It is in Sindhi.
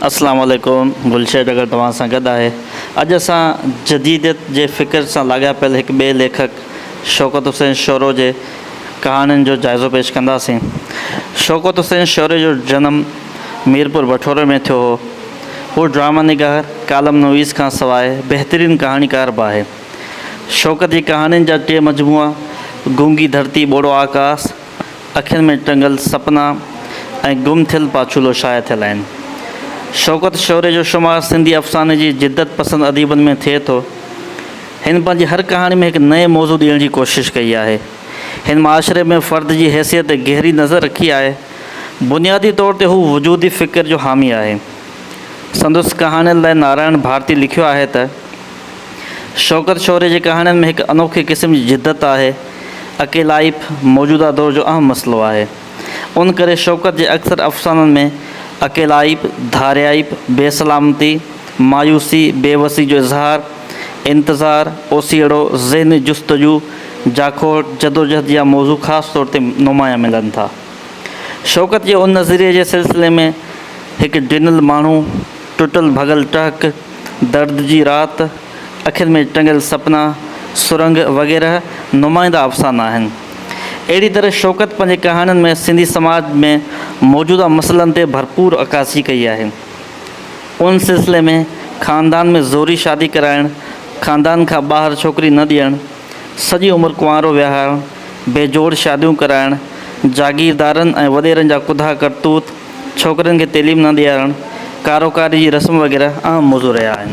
اسلام عليڪم گلشيد اگر توهان سان گڏ آهي اڄ اسان جديديت جي فڪر سان لاڳاپيل هڪ ٻئي ليکڪ شوڪت حسين شورو جي ڪهاڻين جو جائزو پيش ڪنداسين شوڪت حسين شوري جو جنم ميرپور بٺوري ۾ ٿيو هو هو ڊرامه نگار ڪالم نويس کان سواء بهترين ڪهاڻيڪار به آهي شوڪت جي ڪهاڻين جا ٽي مجموعا گونگي ڌرتي ٻوڙو آڪاس اکين ۾ ٽنگل سپنا ۽ گم ٿيل پاڇولو شايع ٿيل آهن. شوڪت شوري جو شمار سنڌي افساني جي جدت پسند اديبن ۾ ٿئي ٿو. هن پنهنجي هر ڪهاڻي ۾ هڪ نئين موضوع ڏيڻ جي ڪوشش ڪئي آهي. هن معاشري ۾ فرد جي حيثيت تي گهري نظر رکي آهي. بنيادي طور تي هو وجودي فڪر جو حامي آهي. سندس ڪهاڻين لاء نارائڻ ڀارتي لکيو آهي ته. شوڪت شوري جي ڪهاڻين ۾ هڪ انوکي قسم جي جدت آهي. اڪيلائپ موجوده دور جو اهم مسئلو آهي. ان ڪري شوڪت جي اڪثر افسانن ۾ اڪيلائپ، ڌاريائپ، بي سلامتي، مايوسي، بي وسي جو اظهار، انتظار، اوسيئڙو، ذهني جستجو، جاکوڙ، جدوجهد جيا موضوع خاص طور تي نمايان ملن ٿا. شوڪت جي ان نظريي جي سلسلي ۾ هڪ ڊنل ماڻهو، ٽٽل ڀڳل ٽهڪ، درد جي رات، اکين ۾ ٽنگيل سپنا، سرنگ وغيره نمائنده افسانا آهن. اهڙي طرح شوڪت پنهنجي ڪهاڻين ۾ سنڌي سماج ۾ موجوده مسئلن تي ڀرپور عڪاسي ڪئي آهي. ان سلسلي ۾ خاندان ۾ زوري شادي ڪرائڻ، خاندان کان ٻاهر ڇوڪري نه ڏيڻ، سڄي عمر ڪنوارو ويهارڻ، بي جوڙ شاديون ڪرائڻ، جاگيردارن ۽ وڏيرن جا ڪڌا ڪرتوت، ڇوڪرين کي تعليم نه ڏيارڻ، ڪارو ڪاري جي رسم وغيره اهم موضوع رهيا آهن.